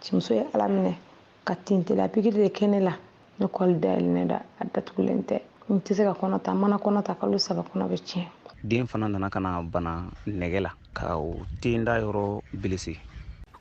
cɛmuso ye ala minɛ ka tintela pikiri de kɛ ne la ne kɔli dayɛlɛnnen don a datugulen tɛ n tɛ se ka kɔnɔ ta mana kɔnɔ ta kalo saba kɔnɔ bɛ tiɲɛ den fana nana ka na bana nɛgɛ la ka o den da yɔrɔ bilisi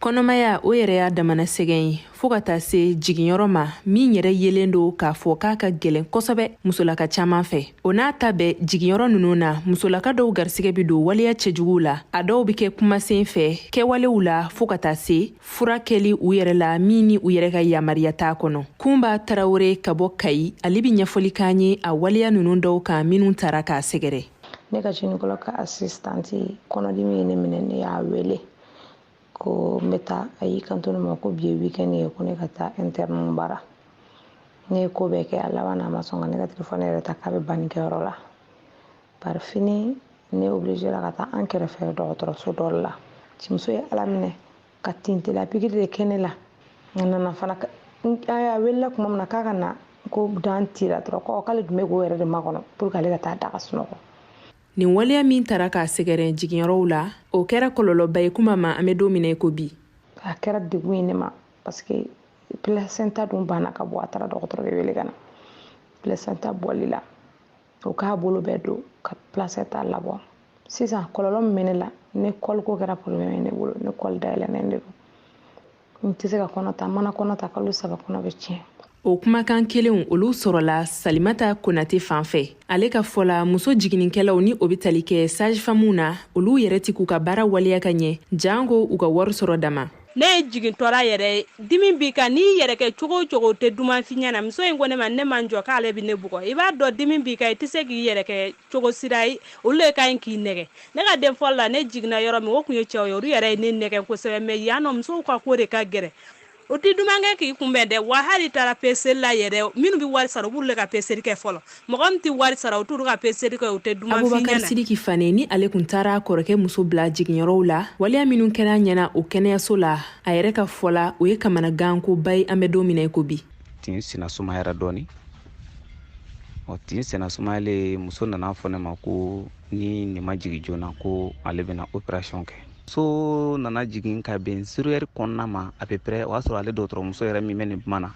kɔnɔmaya o yɛrɛ y'a damana sɛgɛn ye fɔɔ ka taa se jiginyɔrɔ ma min yɛrɛ yelen don k'a fɔ k'a ka gwɛlɛn kosɛbɛ musolaka caaman fɛ o n'a ta bɛɛ jiginyɔrɔ ninnu na musolaka dɔw garisɛgɛ bɛ don waleya cɛjuguw la a dɔw bɛ kɛ kumasen fɛ kɛwalew la fɔɔ ka taa se fura kɛli u yɛrɛ la min ni u yɛrɛ ka yamariya t'a kɔnɔ kunba tarawore ka bɔ kayi ale bɛ ɲɛfɔli k'an ye a waleya ninnu dɔw kan minnu tara k'a sɛgɛrɛ ne ka gynécologue ka assistante kɔnɔdimi ye ne minɛ ne y'a wele ko n bɛ taa a y'i kanto ne ma ko bi ye weekend ye ko ne ka taa interne bara ne ye ko bɛɛ kɛ a laban na a ma sɔn ka ne ka telefɔni yɛrɛ ta k'a bɛ bannikɛyɔrɔ la par finir ne obligera ka taa an kɛrɛfɛ dɔgɔtɔrɔso dɔ la cimuso ye ala minɛ ka tintela pikiri de kɛ ne la a nana fana a welela kuma min na k'a ka na ko dan tira dɔrɔn k'ale tun bɛ k'o yɛrɛ de makɔnɔ pour que ale ka taa da ka sunɔgɔ nin waleya min tara k'a sɛgɛrɛ jiginyɔrɔw la o kɛra kɔlɔlɔba ye kunba ma an bɛ don min na i ko bi a kɛra degun ye ne ma parce que placenta dun banna ka bɔ a taara dɔgɔtɔrɔ de wele ka na placenta bɔli la o k'a bolo bɛɛ don ka placenta labɔ sisan kɔlɔlɔ min bɛ ne la ne kɔliko kɛra problème ye ne bolo ne kɔli dayɛlɛnnen de don n tɛ se ka kɔnɔ ta mana kɔnɔ ta kalo saba kɔnɔ bɛ tiɲɛ o kumakan kelenw olu sɔrɔla salimata konate fan fɛ ale ka fɔ la muso jiginnikɛlaw ni o be tali kɛ sage-femmew na olu yɛrɛ ti k'u ka baara waleya ka ɲɛ janko u ka wari sɔrɔ dama ne ye jigintɔra yɛrɛ dimi b'i kan n'i yɛrɛ kɛ cogo o cogo o tɛ duman f'i ɲɛna muso in ko ne ma ne ma n jɔ k'ale bɛ ne bugɔ i b'a dɔn dimi b'i kan i tɛ se k'i yɛrɛ kɛ cogo si ra yen olu le ka ɲi k'i nɛgɛ ne ka den fɔlɔ la ne jiginna yɔrɔ min o tun ye cɛw ye olu yɛrɛ ye ne nɛgɛ kosɛbɛ mais yan nɔ musow ka ko de ka gɛlɛn o tɛ duman kɛ k'i kunbɛn dɛ wa hal'i taara peseli la yɛrɛ minnu bɛ wari sara u b'olu ka peseli kɛ fɔlɔ mɔgɔ min tɛ wari sara u t'olu ka peseli kɛ u tɛ duman f'i ɲɛna abubakar sidiki fane ni ale tun taar'a kɔrɔkɛ muso bila jiginyɔrɔw la waleya minnu kɛr'a ɲɛna o kɛnɛyaso la a yɛrɛ ka fɔ la o ye kamanagankoba ye an bɛ don min na i ko bi tin sina sumayara dɔɔni ɔ tin sina sumayalen muso nan'a fɔ ne ma ko ni nin ma jigin joona ko ale bɛna opération kɛ muso nana jigin ka bɛn zéro heure kɔnɔna ma à peu près o y'a sɔrɔ ale dɔgɔtɔrɔmuso yɛrɛ min bɛ nin kuma na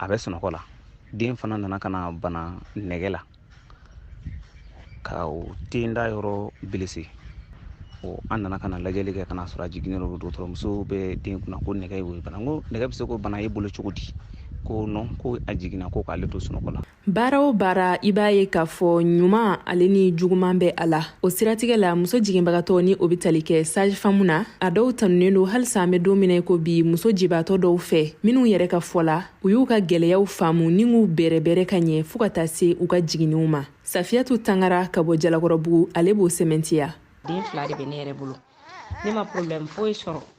a bɛ sunɔgɔ la den fana nana ka na bana nɛgɛ la ka o den da yɔrɔ bilisi o an nana ka na lajɛli kɛ ka n'a sɔrɔ a jiginnen don dɔgɔtɔrɔmuso bɛ den kunna ko nɛgɛ y'o bana n ko nɛgɛ bɛ se k'o bana e bolo cogo di ko non ko a jiginna ko k'ale to sunɔgɔ la baara o baara i b'a ye k'a fɔ ɲuman ale ni juguman bɛ a la o siratigɛ la muso jiginbagatɔ ni o bɛ tali kɛ sage-femme na a dɔw tanunen don halisa an bɛ don min na i ko bi muso jibaatɔ dɔw fɛ minnu yɛrɛ ka fɔ la u y'u ka gwɛlɛyaw faamu ni k'u bɛrɛbɛrɛ ka ɲɛ fɔɔ ka taa se u ka jiginniw ma safiyatu tangara ka bɔ jalakɔrɔbugu ale b'o sɛmɛntiya den fila de bɛ ne yɛrɛ bolo ne ma problɛmu foyi sɔrɔ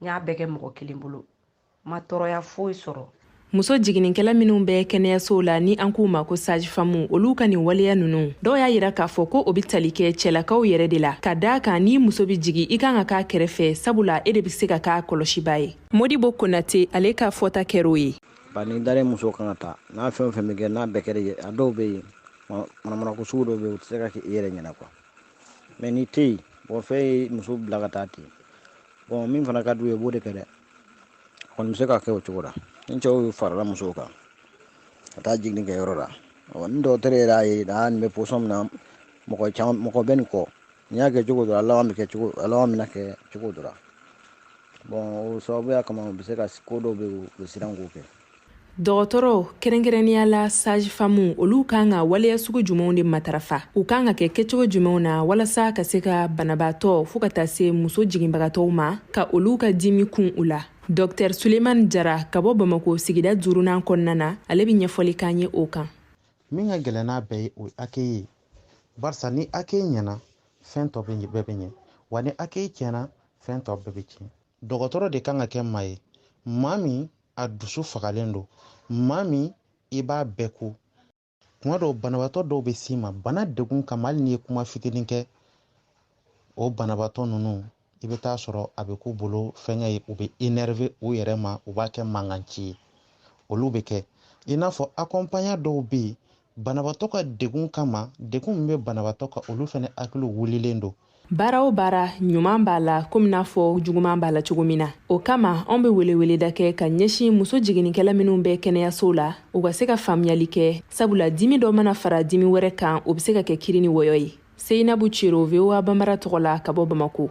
n y'a bɛɛ kɛ mɔgɔ kelen bolo n ma tɔɔrɔya foyi sɔrɔ muso jiginnikɛla minw bɛ kɛnɛyasow la ni an k'u ma ko sage-femme olu ka nin waleya nunu dɔw y'a yira k'a fɔ ko o be tali kɛ cɛlakaw yɛrɛ de la ka d'a kan ni muso be jigi i kan ka k'a kɛrɛfɛ sabula e de be se ka k'a kɔlɔsiba ye modibo konate ale ka fɔta kɛr'o ye ba ni dalen muso kan ka taa n'a fɛn o fɛn be kɛ n'a bɛɛ kɛr'i ye a dɔw be yen manamanako sugu dɔw be yen u tɛ se ka kɛ i yɛrɛ ɲɛna quoi mais n'i tɛ yen mɔgɔ fɛn ye muso bila ka taa ten bɔn min fana ka d'u ye u b'o de kɛ dɛ kɔni bɛ se ka kɛ o cogo la ni cɛw farala musow kan ka taa jiginni kɛ yɔrɔ la ni dɔgɔtɔrɔ yɛrɛ y'a ye aa nin bɛ position min na mɔgɔ bɛ nin kɔ n'i y'a kɛ cogo dɔ la laban bɛna kɛ cogo dɔ la bɔn o sababuya kama u bɛ se ka ko dɔw bɛ yen u bɛ siran k'o kɛ dɔgɔtɔrɔw kɛrɛnkɛrɛnnenya la sage-femme olu kan ka waleya sugu jumɛnw de matarafa u kan ka kɛ kɛcogo jumɛnw na walasa ka se ka banabaatɔ fɔɔ ka taa se muso jiginbagatɔw ma ka olu ka dimi kun u la dɔktɛr suleiman jara ka bɔ bamako sigida duurunan kɔnɔna na ale be ɲɛfɔli k'an ye o kan min ka gɛlɛn n'a bɛɛ ye o ye accueil ye barisa ni accueil ɲɛna fɛn tɔ bɛɛ bɛ ɲɛ wa ni accueil tiɲɛna fɛn tɔ bɛɛ bɛ tiɲɛ dɔgɔtɔrɔ de kan ka kɛ maa ye maa min a dusu fagalen don maa min i b'a bɛɛ ko tuma dɔw banabaatɔ dɔw bɛ s'i ma bana degun kama hali n'i ye kuma fitinin kɛ o banabaatɔ ninnu i bɛ taa sɔrɔ a bɛ k'u bolo fɛnkɛ ye u bɛ énervé u yɛrɛ ma u b'a kɛ mankan ci ye olu bɛ kɛ i n'a fɔ accompagnant dɔw bɛ yen banabaatɔ ka degun kama degun min bɛ banabaatɔ kan olu fana hakili wulilen don baara o baara ɲuman b'a la komi n'a fɔ juguman b'a la cogo min na o kama anw be weleweleda kɛ ka ɲɛsin muso jigininkɛla minw bɛ kɛnɛyasow la u ka se ka faamuyali kɛ sabula dimi dɔ mana fara dimi wɛrɛ kan o be se ka kɛ kiri ni wɔyɔ ye seyinabu ciro voa banbara tɔgɔ la ka bɔ bamako